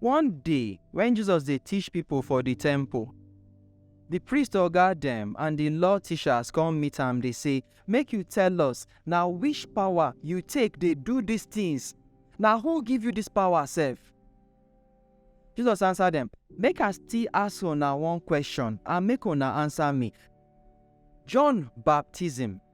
One day, wen Jesus dey teach pipo for di temple, di priest oga dem and di Law teachers come meet am, dey say, Make you tell us, na which power you take dey do dis tins? Na who give you dis power sef? Jesus answer dem, Make I still ask una one question and make una answer me. John baptism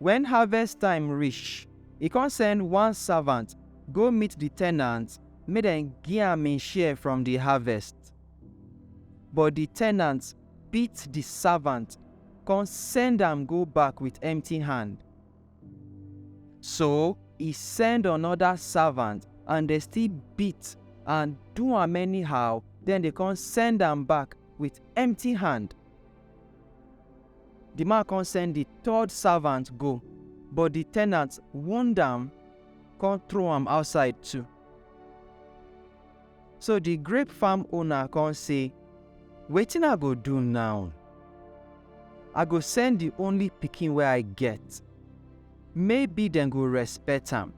Wen harvest time rish, e kon send one savant go meet di tenant make dem gi am im share from di harvest. But di tenant beat di savant kon send am go back with empty hand. So, e send onoda savant and dem still beat and do am anyhow den dem kon send am back with empty hand. Di man kon send di third savant go, but di tenant wound am kon throw am outside too. So di grape farm owner kon sey, Wetin I go do naw? I go send di only pikin wey I get, maybe dem go respect am.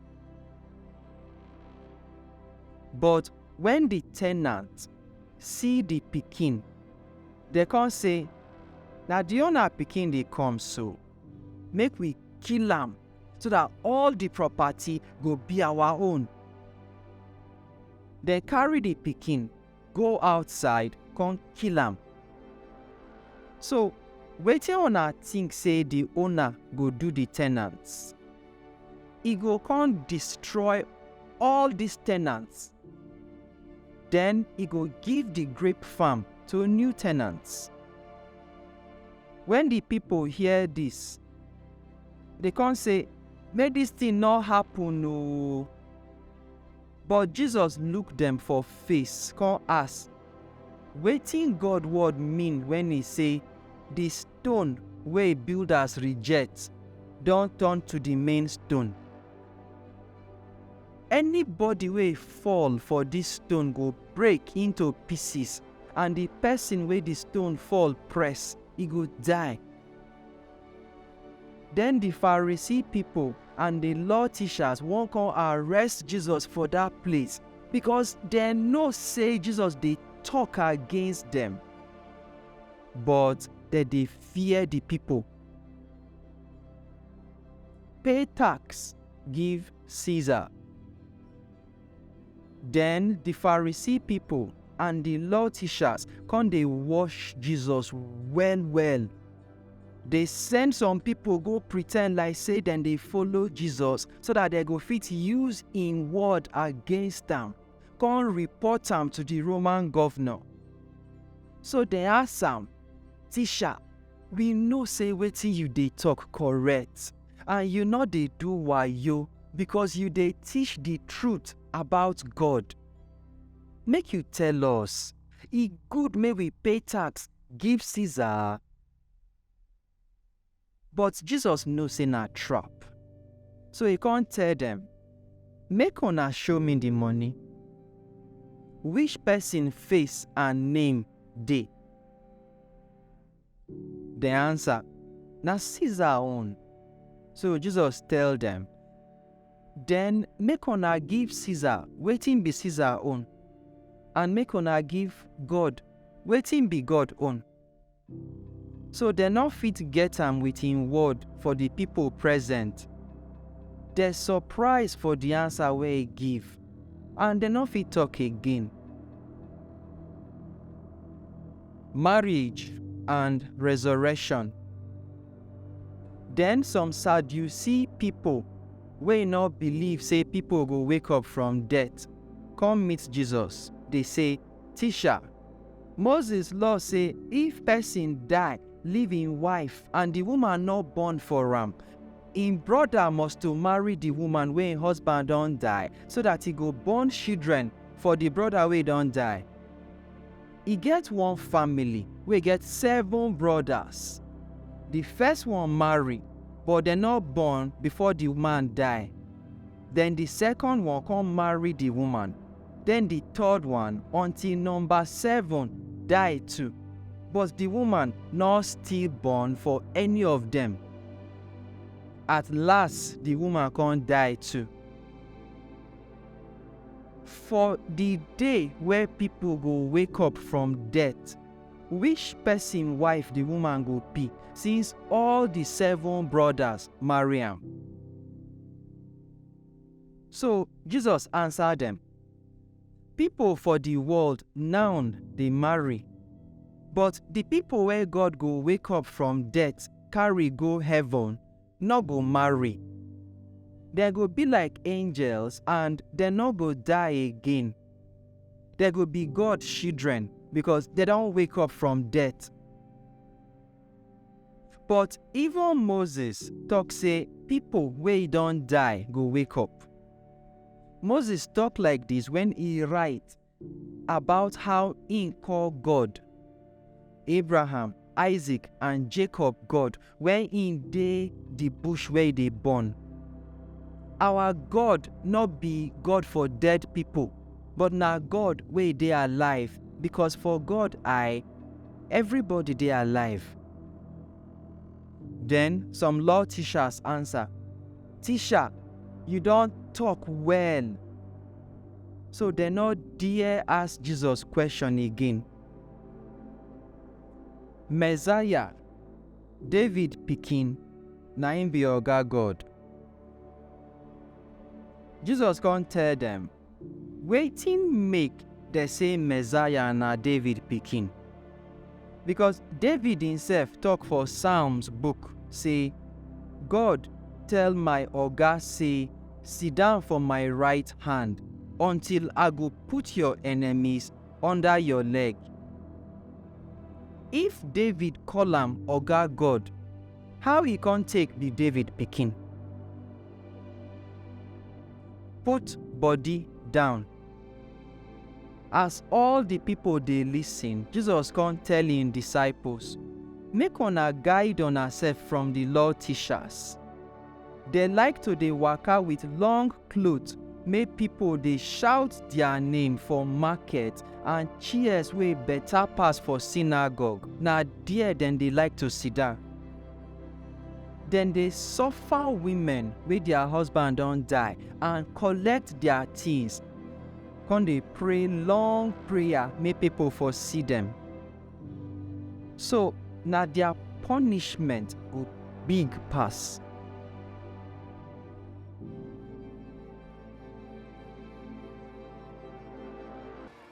But wen di tenant see di pikin, Dem kon sey, Na di owna pikin dey kom so. Make wi kill am, so dat all di propati go bi awa own. Dem karry di pikin go outsaid kon kill am. So, wetin una tink sey di owna go do di tenants? E go kon distroy all dis tenants? Den e go give di grape farm to new tenants. Wen di pipol hear dis, dey kon sey, Make dis tin nor happen o! But Jesus look dem for face kon ask, Wetin God word mean wen e sey, Di stone wey builders reject don turn to di main stone. Anybody wey fall for dis stone go break into pieces, and di pesin wey di stone fall press, e go die. Den di Pharisee pipo and di Law teachers wan come arrest Jesus for dat place, becos dem know sey Jesus dey tok against dem. But dem dey fear di pipo. Pay tax give Caesar. Den di Pharisee pipo and di Law teachers kon dey wosh Jesus well-well. Dey send some pipo go pretend like sey dem dey follow Jesus so dat dem go fit use im word against am. come report am to the Roman governor. So dem ask am, Teacher, we know say wetin you dey talk correct and you no dey do wayo because you dey teach the truth about God. Make you tell us, e good make we pay tax give Caesar? But Jesus know sey na trap, so e con tell dem, Make una show me di money. Which pesin face and name dey? Dem ansa, Na Caesar own. So Jesus tell dem, Den make una give Caesar wetin be Caesar own, and make una give God wetin be God own. So dem nor fit get am with im word for di pipo present. Dem surprise for di ansa wey e give, and dem nor fit tok again. Marriage and Resurrection Den some Sadusee pipo wey nor believe sey pipo go wake up from death, come meet Jesus, dey sey. Tisha, Moses law sey if pesin die leave im wife and di woman nor born for am, im broda must to marry di woman wey im husband don die so dat e go born shidren for di broda wey don die. E get one family wey get seven brodas. Di first one marry but dem nor born before di man die. Den di sekon one kon marry di woman, den di third one, until nomba seven, die too, but di woman nor still born for any of dem. At las di woman kon die too. For di day wey pipol go wake up from death, wish pesin wife di woman go bi, since all di seven brodas marry am? So Jesus ansa dem, Pipo for di world now dey marry, but di pipo wey God go wake up from death carry go heaven nor go marry. Dem go be like angels and dem nor go die again. Dem go be God shidren becos dem don wake up from death. But even Moses tok sey pipo wey don die go wake up. Moses tok like dis wen e write about how im call God, Abraham, Isaac, and Jacob God wen im dey di bush where e dey burn, Our God no be God for dead pipo, but na God wey dey alive, becos for God eye, Everybody dey alive. Den some law tishas ansa, Tisha, yu don tok well! So dem nor dare ask Jesus kweshon again. Messiah, David pikin, na im bi Oga God. Jesus kon tell dem. Wetin make dem say Messiah na David pikin? Because David himself talk for Psalms book say, God tell my Oga say, Sit down for my right hand until I go put your enemies under your leg. If David call am Oga God, how e come take be David pikin? Put body down. As all di pipo dey listen, Jesus kon tell im disciples, Make una guide unasef from di law tishas. Dem like to dey waka with long klot, make pipo dey shaut dia name for maket and chairs wey beta pass for sinagog, na der dem dey like to sidan. Dem dey suffer women wey dia husband don die and collect dia tins, con dey pray long prayer make pipo for see dem. So na dia punishment go big pass.